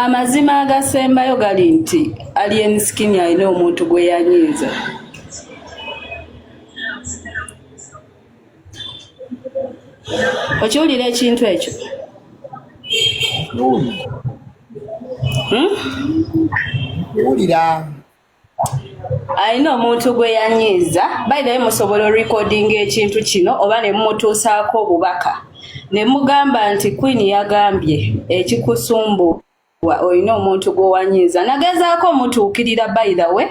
amazima agasembayo gali nti alien skin alina omuntu gwe yanyiiza okiwulira ekintu ekyo hmm? wulira alina omuntu gwe yanyiiza bayidayo musobola orekodinga ekintu kino oba ne mumutuusaako obubaka ne mugamba nti queen yagambye ekikusumbuwa olina omuntu gwewanyiiza nagezaako omutuukirira by the way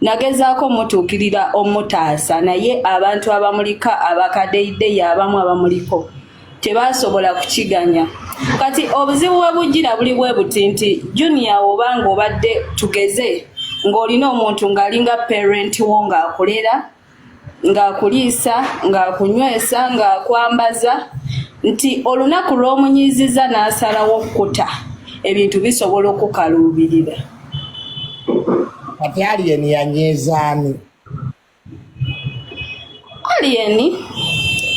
nagezaako omutuukirira omutaasa naye abantu abamulika abakadeyideyi abamu abamuliko tebaasobola kukiganya kati obuzibu bwe bujjira buli bwe buti nti junior oba ng'obadde tugeze ng'olina omuntu ng'alinga parent wo ng'akulera ng'akuliisa ng'akunywesa ng'akwambaza nti olunaku lw'omunyiiziza n'asalawo okukuta ebintu bisobola okukaluubirira kati aliyeni yanyiizaani Alien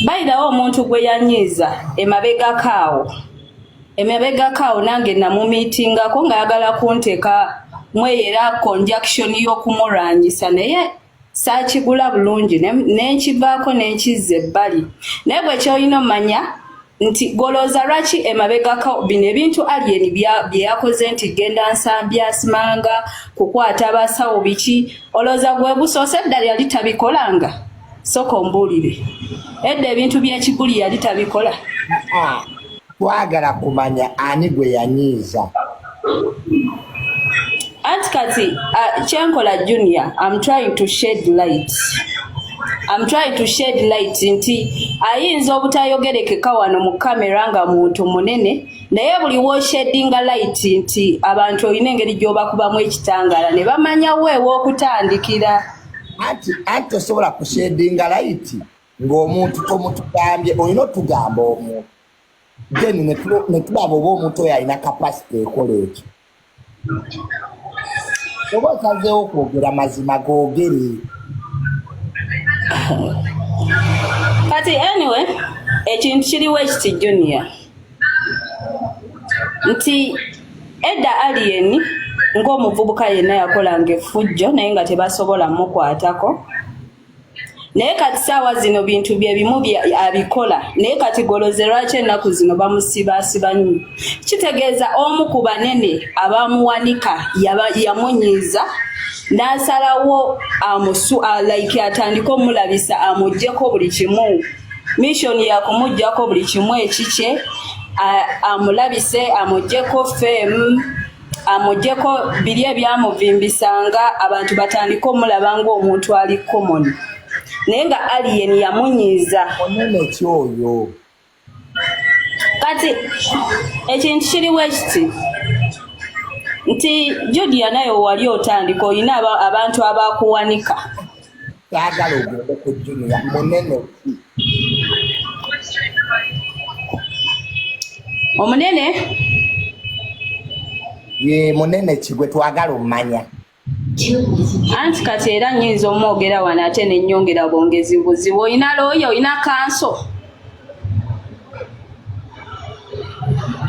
bayidawo omuntu gwe yanyiiza emabegako awo emabegako awo nange namumiitingako ng'ayagala kunteeka mweyo era conjunction y'okumulwanyisa naye saakigula bulungi nenkivaako nenkizza ebbali naye bwekyolina omanya nti golooza lwaki emabegako bino ebintu alien bye yakoze nti genda nsambya simanga kukwata abasawo biki olooza gwe busoose eddala yali tabikolanga soka ombuulire edda ebintu byekiguli yali tabikola twagala kumanya ani gwe yanyiiza anti kati uh, kyenkola junior am trying to shed light am trying to shed light nti ayinza obutayogerekeka wano mu kamera nga muntu munene naye buli woshedinga light nti abantu olina engeri gyobakubamu ekitangaala ne bamanya weewa okutandikira anti anti tosobola kushedinga light ng'omuntu tomutugambye olina otugamba omuntu then netulaba oba omuntu oyo alina kapasite ekola ekyo oba osazeewo kwogera mazima googere kati anyway ekintu kiriwo ekiti junior nti edda alien ng'omuvubuka yenna yakolanga effujjo naye nga tebasobola mukwatako naye kati saawa zino bintu byebimu abikola naye kati goloze lwaki ennaku zino bamusibaasiba nyo kitegeeza omu ku banene abamuwanika yamunyiiza n'asalawo amusu like atandike omulabisa amugyeko buli kimu mishoni yakumugyako buli kimu ekikye amulabise amugyeko femu amugyeko biri ebyamuvimbisanga abantu batandike omulaba ng'omuntu ali common naye nga alien yamunyiiza onene ki oyo kati ekintu kiriwo ekiti nti judia naye wali otandika olina abantu abakuwanika kyagala ogende ku junia munene ki omunene ye munene ki gwe twagala omumanya anti kati era nyinza omwogera wano ate nenyongera bwongezi buzibu olina looya olina kanso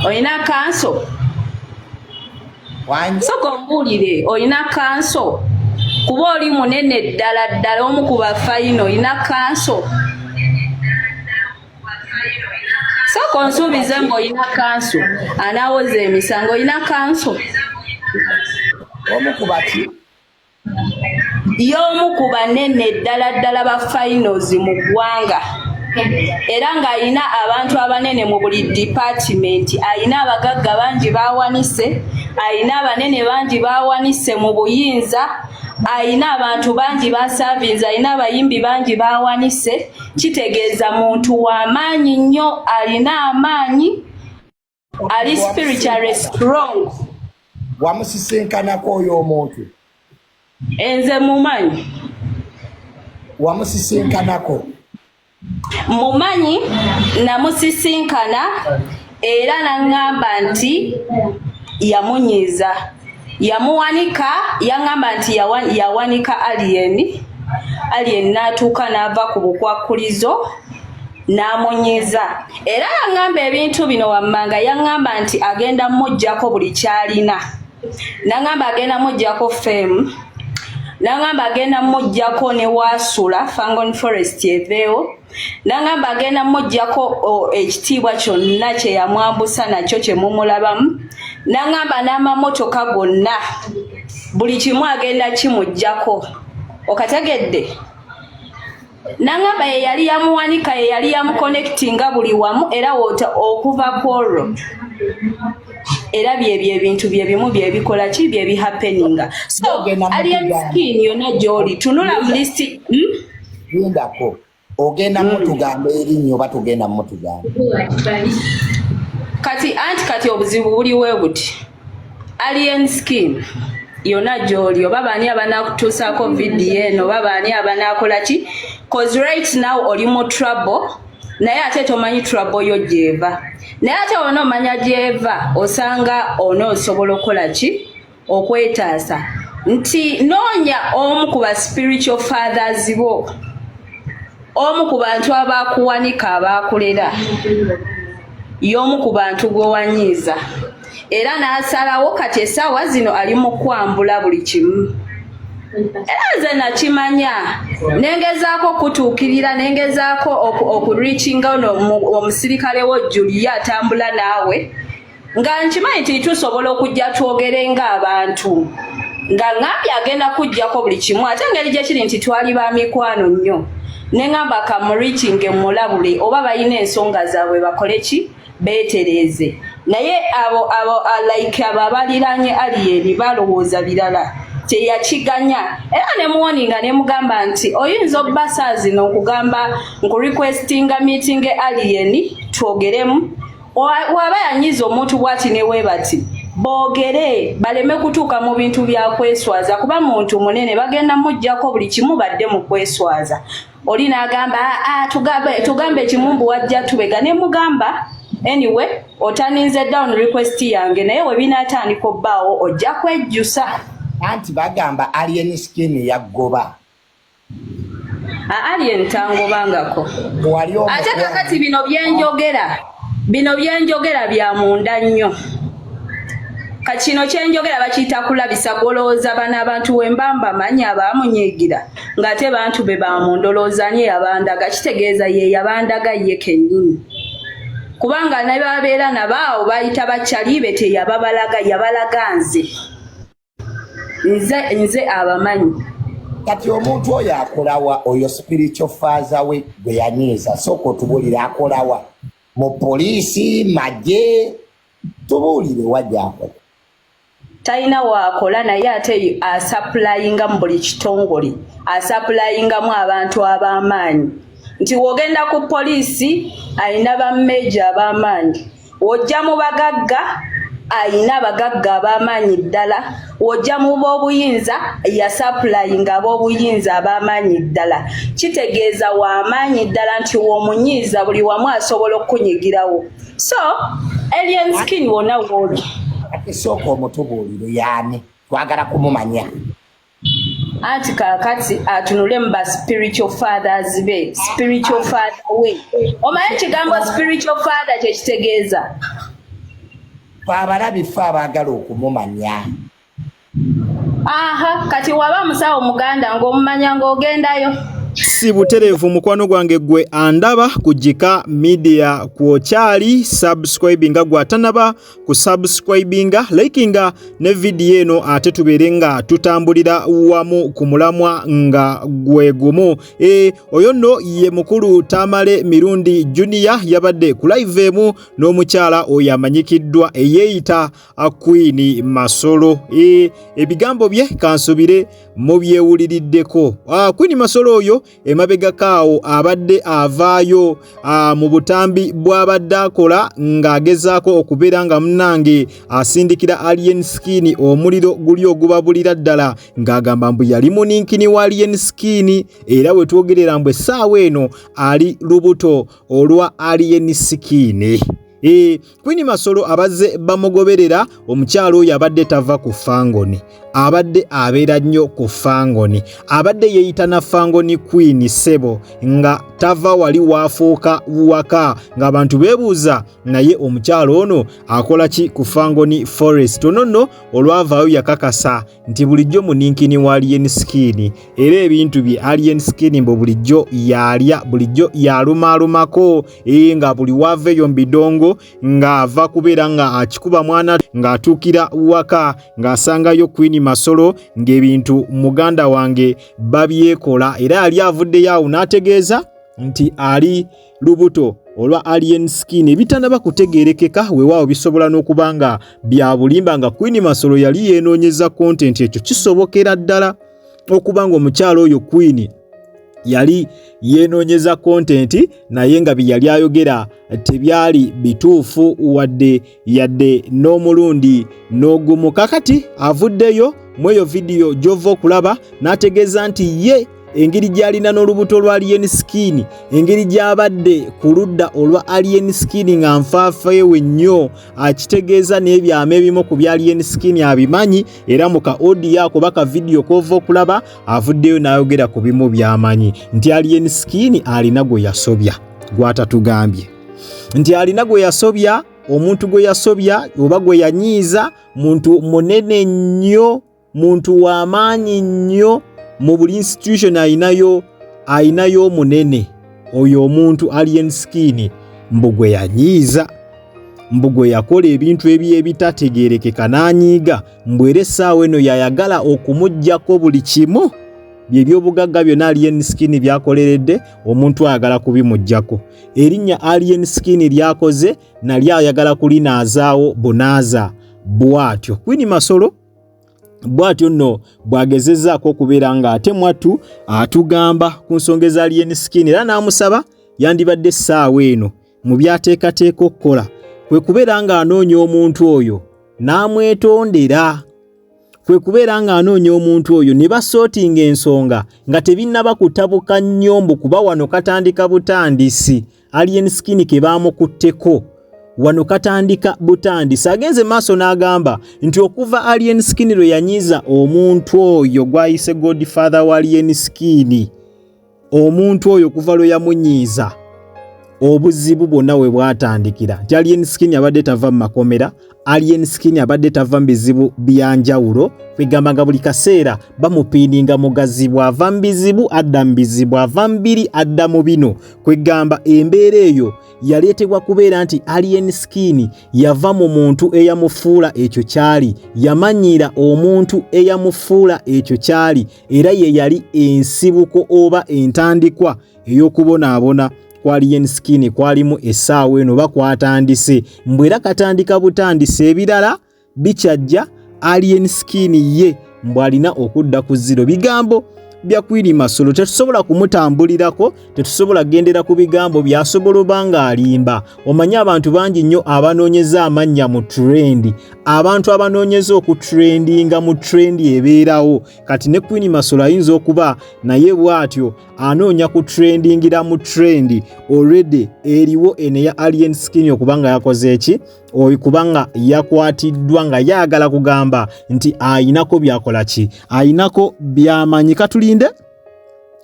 olina kanso soka ombuulire olina kanso kuba oli munene ddala ddala omu ku bafayina olina kanso soka onsuubize ngaolina kanso anaawoza emisango olina kanso omu kubaki y'omu ku banene ddala ddala ba finals mu ggwanga era ng'alina abantu abanene mu buli dipatimenti alina abagagga bangi bawanise alina abanene bangi bawanise mu buyinza alina abantu bangi basavinze alina abayimbi bangi bawanise kitegeeza muntu w'amaanyi nnyo alina amaanyi ali spiritually strong wamusisinkanako oyo omuntu enze mumanyi wamusisinkanako mumanyi namusisinkana era naŋŋamba nti yamunyiiza yamuwanika yaŋŋamba nti yawanika aliyeni aliyeni n'atuuka n'ava ku bukwakkulizo n'amunyiiza era yaŋŋamba ebintu bino wammanga yaŋŋamba nti agenda mujjako buli kyalina naŋŋamba agenda mujjako fem naŋŋamba agenda mujjako ne waasula fangon forest eveewo naŋŋamba agenda mujjako ekitiibwa kyonna kye yamwambusa nakyo kye mumulabamu naŋŋamba n'amamotoka gonna buli kimu agenda kimujjako okategedde nangamba ye yali yamuwanika ye yali yamuconnectinga buli wamu era wota okuva kwolwo era byebyo ebintu byebimu byebikola ki byebihappeninga so alien skin yona gyoli tunula mulisti hmm? lindako ogenda hmm. mutugamba erinnya oba tugenda mutugamba kati anti kati obuzibu buliwe buti Alien skin yona gyoli oba baani abanakutuusaako vidiyo eno oba baani abanaakola ki cause right now oli mu trouble naye ate tomanyi trouble yo gyeva naye ate ona omanya gyeva osanga ona osobola okukola ki okwetaasa nti noonya omu ku ba spiritual fathers bo omu ku bantu abaakuwanika abaakulera y'omu ku bantu gwewanyiiza era n'asalawo kati essaawa zino ali mu kwambula buli kimu era nze nakimanya nengezaako okutuukirira nengezaako okureachinga ono omusirikale wo julia atambula naawe nga nkimanyi nti tusobola okujja twogere ng'abantu nga ngambye agenda kujjako buli kimu ate engeri gye kiri nti twali ba mikwano nnyo nengamba kamurikinge mulabule oba balina ensonga zaabwe bakole ki beetereeze naye abo abo alaike abo abaliranye aliyeni balowooza birala teyakiganya era nemuwoninga nemugamba nti oyinza obbasazino okugamba nkurequestinga meetinge aliyeni twogeremu waba yanyiza omuntu bwati newebati boogere baleme kutuuka mu bintu bya kweswaza kuba muntu munene bagenda mujjako buli kimu badde mu kweswaza oli n'agamba ah, ah, tugambe ekimu mbu wajja tubega ne mugamba anyway otaninze down request yange naye we binaatandika obbaawo ojja kwejjusa anti bagamba alien skin yaggoba Alien tangobangako ate kakati bino byenjogera bino byenjogera bya munda nnyo kakino kyenjogera bakiyita kulabisa golowooza bana abantu wembamba manyi abaamunyiigira ng'ate bantu be bamundolowoozani eyabandaga kitegeeza ye yabandaga ye kennyini kubanga nababeera nabaawo bayita bakyali be teyababalaga yabalaga nze nze nze abamanyi kati omuntu oyo akolawa oyo spiritual faza we gwe yanyiiza sooka otubulire akolawa mu poliisi magye tubuulire wajja akola talina waakola naye ate asapulayinga mu buli kitongole asapulayingamu abantu ab'amaanyi nti wogenda ku poliisi alina bammeeja ab'amaanyi ojja mu bagagga ayina abagagga ab'amaanyi ddala ojja mu b'obuyinza yasapulayinga ab'obuyinza ab'amaanyi ddala kitegeeza w'amaanyi ddala nti w'omunyiiza buli wamu asobola okukunyigirawo so alien skin wona wooli ate sooka omutubuulire yaani twagala kumumanya anti kakati atunule mu ba spiritual fathers be spiritual father we omanyi ekigambo spiritual father kyekitegeeza abalabi fe abaagala okumumanya aha kati waba musawo muganda ng'omumanya ng'ogendayo si butereevu mukwano gwange gwe andaba ku jika media kwokyali subscribe nga gwatanaba ku subscribinga likinga ne vidiyo eno ate tubeere nga tutambulira wamu ku mulamwa nga gwe gumu e, oyo nno ye mukulu tamale mirundi junior yabadde ku live emu n'omukyala oyo amanyikiddwa eyeeyita akwini masolo e, ebigambo bye kansubire mubyewuliriddeko akwini ah, masolo oyo emabegako awo abadde avaayo mu butambi bw'abadde akola ng'agezaako okubeera nga munnange asindikira alien skin omuliro guli ogubabulira ddala ng'agamba mbu yali muninkini wa alien skin era we twogerera mbu essaawa eno ali lubuto olwa alien skin E, Queen Masolo abazze bamugoberera omukyalo oyo abadde tava ku fangoni abadde abeera nnyo ku fangoni abadde yeeyita na fangoni Queen Sebo nga tava wali waafuuka waka ng'abantu beebuuza naye omukyalo ono akola ki ku fangoni forest ono nno olwavaayo yakakasa nti bulijjo muninkini wa alien skin era ebintu bye alien skin mbu bulijjo yaalya bulijjo yaalumaalumako ee nga buli waava eyo mu bidongo ng'ava kubeera nga akikuba mwana ng'atuukira waka ng'asangayo kwini masolo ng'ebintu muganda wange babyekola era yali avuddeyo awo n'ategeeza nti ali lubuto olwa alien skin ebitanaba kutegerekeka wewaawo bisobola n'okuba nga byabulimba nga queen masolo yali yenoonyeza kontenti ekyo kisobokera ddala okuba nga omukyalo oyo queen yali yenoonyeza kontenti naye nga byeyali ayogera tebyali bituufu wadde yadde n'omulundi n'ogumu kakati avuddeyo mu eyo vidiyo gy'ova okulaba n'ategeeza nti ye engeri gy'alina n'olubuto lwa alien skin engeri gy'abadde ku ludda olwa alien skin nga nfaafeewe nnyo akitegeeza n'ebyama ebimu ku bya alien skin abimanyi era mu ka odiyo ako baka vidiyo k'ova okulaba avuddeyo n'ayogera ku bimu by'amanyi nti alien skin alina gwe yasobya gwatatugambye nti alina gwe yasobya omuntu gwe yasobya oba gwe yanyiiza muntu munene nnyo muntu w'amaanyi nnyo mu buli institution alinayo alinayo omunene oyo omuntu alien skin mbu gwe yanyiiza mbu gwe yakola ebintu ebyo ebitategeerekeka n'anyiiga mbu era essaawa eno yayagala okumugyako buli kimu byebyobugagga byonna alien skin byakoleredde omuntu ayagala kubimugyako erinnya alien skin lyakoze nali ayagala kulinaazaawo bunaaza bwatyo kwini masolo bwatyo nno bwagezezaako okubeera nga ate mwattu atugamba ku nsonga eza alien skin era n'amusaba yandibadde essaawa eno mu byateekateeka okukola kwe kubeera ng'anoonya omuntu oyo n'amwetondera kwe kubeera ng'anoonya omuntu oyo ne basootinga ensonga nga tebinnaba kutabuka nnyo mbu kuba wano katandika butandisi alien skin ke baamukutteko wano katandika butandisi agenze maaso n'agamba nti okuva alien skin lwe yanyiiza omuntu oyo gw'ayise godfather wa alien skin omuntu oyo kuva lwe yamunyiiza obuzibu bwonna we bwatandikira nti alien skin abadde tava mu makomera alien skin abadde tava mu bizibu byanjawulo kwegamba nga buli kaseera bamupiininga mugazi bw'ava mu bizibu adda mu bizibu ava mu biri adda mu bino kwegamba embeera eyo yaleetebwa kubeera nti alien skin yava mu muntu eyamufuula ekyo kyali yamanyiira omuntu eyamufuula ekyo kyali era ye yali ensibuko oba entandikwa ey'okubonaabona kwa lien skin kwalimu essaawa eno oba kwatandise mbu era katandika butandise ebirala bikyajja alien skin ye mbu alina okudda ku ziro bigambo bya kwiri masolo tetusobola kumutambulirako tetusobola gendera ku bigambo byasobola oba ng'alimba omanyi abantu bangi nnyo abanoonyeza amannya mu trendi abantu abanoonyeza oku trendinga mu trendi ebeerawo kati ne queen masolo ayinza okuba naye bw'atyo anoonya ku trendingira mu trendi olredy eriwo ene ya alien skin okuba nga yakoze eki oyo kubanga yakwatiddwa nga yagala kugamba nti ayinako byakola ki ayinako byamanyi katulinde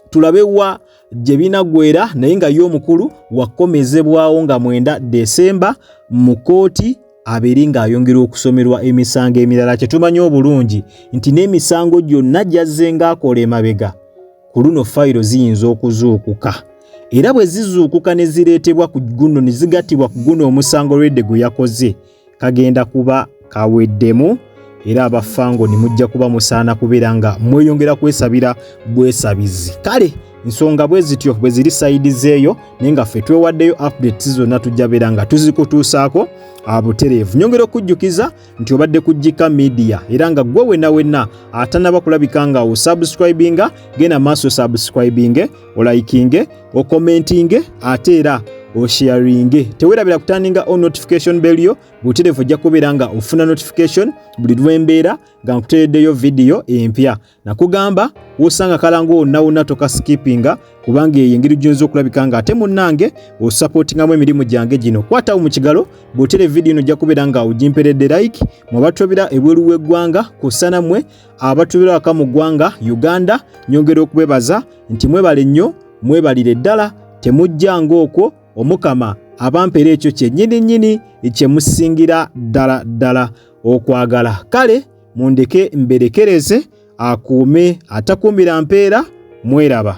tulabe wa gye binagwera naye nga ye omukulu wakomezebwawo nga mwenda desemba mu kkooti abeere ng'ayongera okusomerwa emisango emirala kye tumanyi obulungi nti n'emisango gyonna gyazze ng'akola emabega ku luno fayiro ziyinza okuzuukuka era bwe zizuukuka ne zireetebwa ku guno ne zigattibwa ku guno omusango lwedde gwe yakoze kagenda kuba kaweddemu era abafango ni mujja kuba musaana kubeera nga mweyongera kwesabira bwesabizi kale nsonga bwe zityo bwe ziri sayidi zeeyo naye nga ffe twewaddeyo updates zonna tujja beera nga tuzikutuusaako abutereevu nyongera okujjukiza nti obadde ku jika media era nga gwe wenna wenna atanaba kulabika nga osubscribinga genda maaso subscribinge olayikinge okomentinge ate era osharinge tewerabira kutandinga o notification bell yo buterevu ojja kubeera nga ofuna notification buli lwembeera nga nkutereddeyo vidiyo empya nakugamba wosanga kalango wonna wonna toka skipinga kubanga eyo engeri gyinza okulabika nga ate munnange osapotingamu emirimu gyange gino kwatawo mu kigalo butere vidiyo ino ojja kubeera nga ogimperedde like mwabatobera ebweru w'eggwanga kusanamwe abatubira waka mu ggwanga uganda nyongera okubebaza nti mwebale nnyo mwebalire ddala temujja ngaokwo omukama abampeera ekyo kyennyini nnyini kyemusingira ddala ddala okwagala kale mundeke mberekereze akuume atakuumira mpeera mweraba